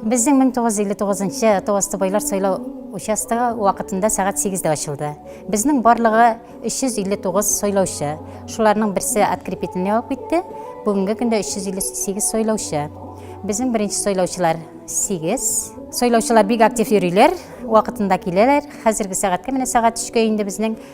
Безнең 1959 Товасты байлар сайлау участогы вакытында сәгать 8-дә ачылды. Безнең барлыгы 359 сайлаучы. Шуларның берсе открепительный алып китте. Бүгенге көндә 358 сайлаучы. Безнең беренче сайлаучылар 8. Сайлаучылар бик актив йөриләр, вакытында киләләр. Хәзерге сәгатькә менә сәгать 3-кә инде безнең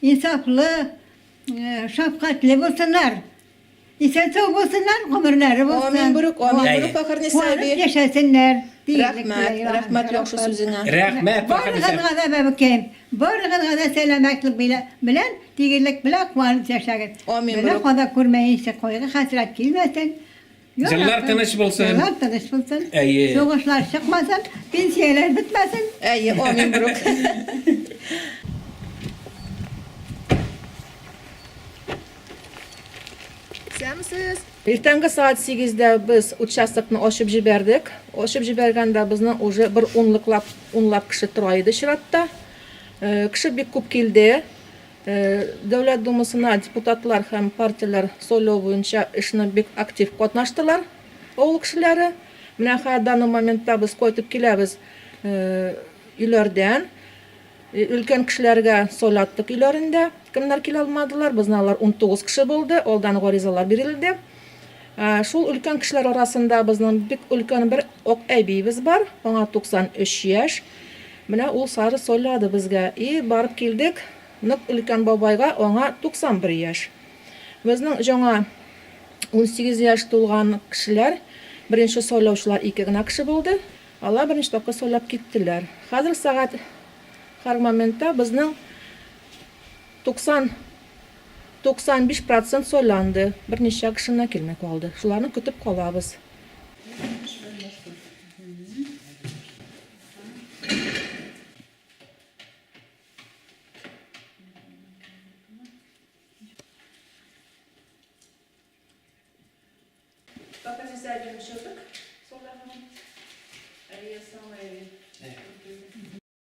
Инсафлы, шәфкатьле булсыннар. Исән сау булсыннар, гомерләре булсын. Амин, Брюк, амин, Әйе. Брюк, Фәхерниса әби. Куанып яшәсеннәр. Рәхмәт, рәхмәт яхшы сүзеңә. Рәхмәт, Фәхерниса. Барыгызга да, бәбекәем, барыгызга да сәламәтлек белән, тигезлек белән куанып яшәгез. Амин, Брюк. Бәла-каза күрмәенче, кайгы-хәсрәт килмәсен. Җырлар тыныч булсын. Җырлар тыныч булсын. Әйе. Сугышлар чыкмасын, пенсияләр бетмәсен. Әйе, амин, друг. Исәнмесез! Иртәнге сәгать сигездә без участокны ачып җибәрдек. Ачып җибәргәндә безнең уже бер унлыклап, унлап кеше тора иде чиратта. Кеше бик күп килде. Дәүләт Думасына депутатлар һәм партияләр сайлау буенча эшне бик актив катнаштылар авыл кешеләре. Менә хә данный моментта без кайтып киләбез өйләрдән. Өлкән кешеләргә сайлаттык өйләрендә. Кемнәр килә алмадылар, безнең алар 19 кеше булды, алдан гаризалар бирелде. Шул өлкән кешеләр арасында безнең бик өлкән бер ак әбиебез бар, аңа 93 яшь. Менә ул сары сойлады безгә. И, барып килдек, нык өлкән бабайга, аңа 91 яшь. Безнең җаңа 18 яшь тулган кешеләр, беренче сойлаучылар ике генә кеше булды, алар беренче тапкыр сойлап киттеләр. Хәзер сәгать һәр моментта безнең 90. 95 процент сойланды. Берничә кеше генә килми калды. Шуларны көтеп калабыз. Пока не зайдем еще так.